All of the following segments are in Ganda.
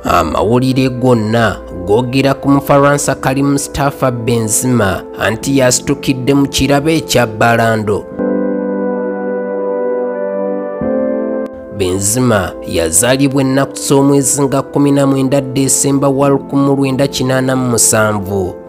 amawulire gonna googera ku mufaransa kali mustafa benzima anti yasitukidde mu kirabo ekya balando benzima yazaalibwa ennaku z'omwezi nga 19 desemba wa 1987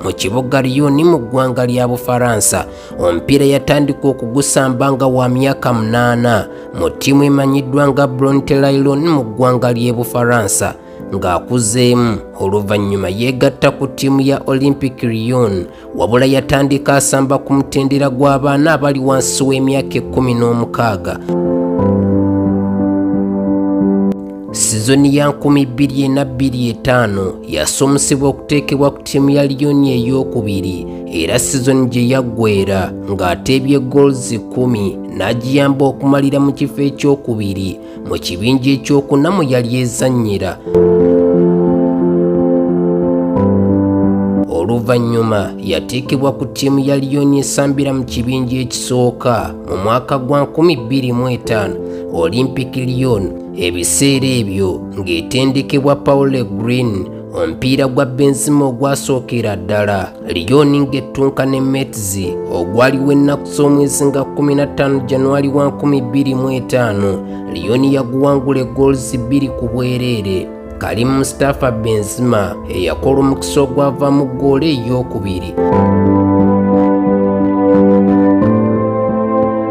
mu kibuga lyoni mu ggwanga lya bufaransa omupiira yatandika okugusamba nga wa myaka munaana mu ttiimu emanyiddwa nga brontelailon mu ggwanga ly'e bufaransa ng'akuzeemu oluvannyuma yeegatta ku ttiimu ya olympic rion wabula yatandika asamba ku mutendera gw'abaana abali wansi w'emyaka ekkumi n'omukaaga sizoni ya 2025 yasumusibwa okuteekebwa ku ttiimu ya liyoni ey'okubiri era sizoni gye yaggwera ng'ateebye goals 1 n'agiyamba okumalira mu kifo ekyokubiri mu kibinja ekyokuna mu yali ezannyira oluvannyuma yateekebwa ku ttiimu ya liyoni esambira mu kibinja ekisooka mu mwaka gwa 25 olympic lyon ebiseera ebyo ng'etendekebwa paule green omupiira gwa benzima ogwasookera ddala Liyooni ng'ettunka ne Metzi ogwaliwo ennaku z'omwezi nga 15 January wa 2025 Liyooni yaguwangula eggools bbiri ku bwereere Karim Mustafa Benzema eyakola omukisa ogwava mu ggoolo ey'okubiri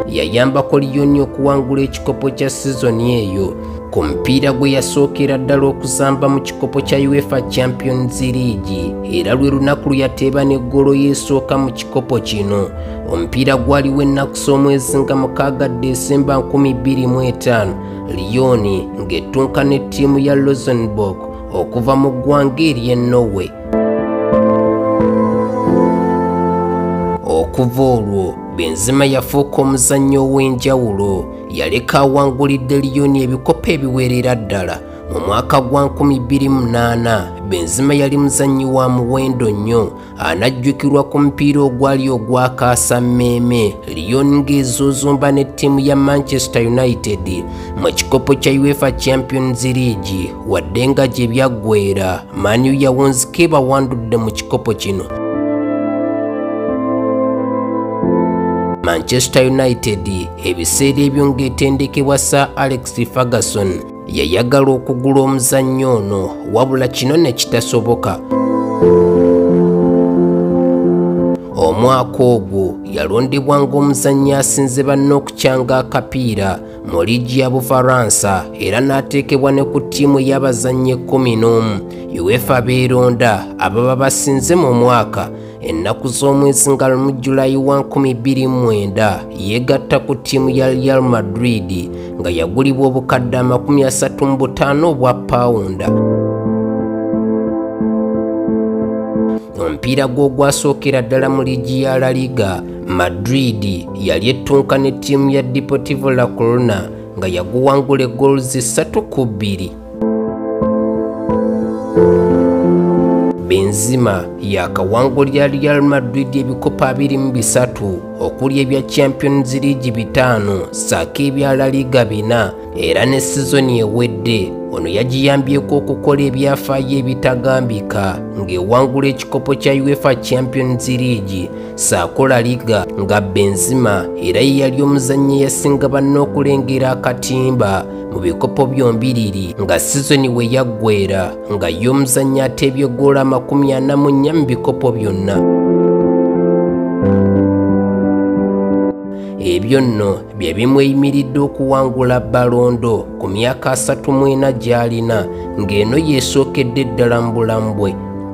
yayambako Liyooni okuwangula ekikopo kya sizoni eyo ku mupiira gwe yasookera ddala okuzamba mu kikopo kya uefa champions league era lwe lunaku lwe yateeba n'eggolo y'esooka mu kikopo kino omupiira gwaliwo ennaku z'omwezi nga mukaaga desemba 25 liyoni ng'ettunka ne ttiimu ya losenburg okuva mu ggwanga ery'e norway okuva olwo benzima yafuuka omuzannyo ow'enjawulo yaleka awangulidde liyoni ebikopo ebiweerera ddala mu mwaka gwa 2008 benzima yali muzannyi wa muwendo nnyo anajjukirwa ku mupiira ogwali ogwakaasa mmeeme liyon ng'ezuuzumba ne ttiimu ya manchester united mu kikopo kya uefa champions league wadde nga gye byaggweera maniu yawunzika ebawandudde mu kikopo kino manchester united Ebiseera ebyo ng'etendekebwa Sir Alex Ferguson yayagala okugula omuzannyo ono wabula kino ne kitasoboka. Omwaka ogwo yalondebwa ng'omuzannyi asinze banne okukyanga akapiira mu liigi ya Bufaransa era n'ateekebwa ne ku ttiimu y'abazannyi ekkumi n'omu UEFA beeronda ababa basinze mu mwaka ennaku z'omwezi nga lumu julayi wa 29 yeegatta ku ttiimu ya real madrid nga yagulibwa obukadde amakumi asatu mu butaano obwa pawunda omupiira gw'ogwasookera ddala mu liigi ya la liga madrid yali ettunka ne ttiimu ya deportivo la corona nga yaguwangula eggoluzi ssatu ku bbiri Benzema yakawangulira Real Madrid ebikopo abiri mu bisatu okuli ebya Champions League bitaano saako ebya La Liga bina era ne sizoni ewedde ono yagiyambyeko okukola ebyafaayo ebitagambika ng'ewangula ekikopo kya UEFA Champions League saako La Liga nga Benzema era ye yali omuzannyi eyasinga banne okulengera akatimba mu bikopo byombiriri nga sizoni we yaggwera nga ye omuzannyi ateebye goola amakumi ana mu nnya mu bikopo byonna ebyo nno bye bimweyimiridde okuwangula balondo ku myaka asatu mwena gy'alina ng'eno yeesookedde ddala mu bulamu bwe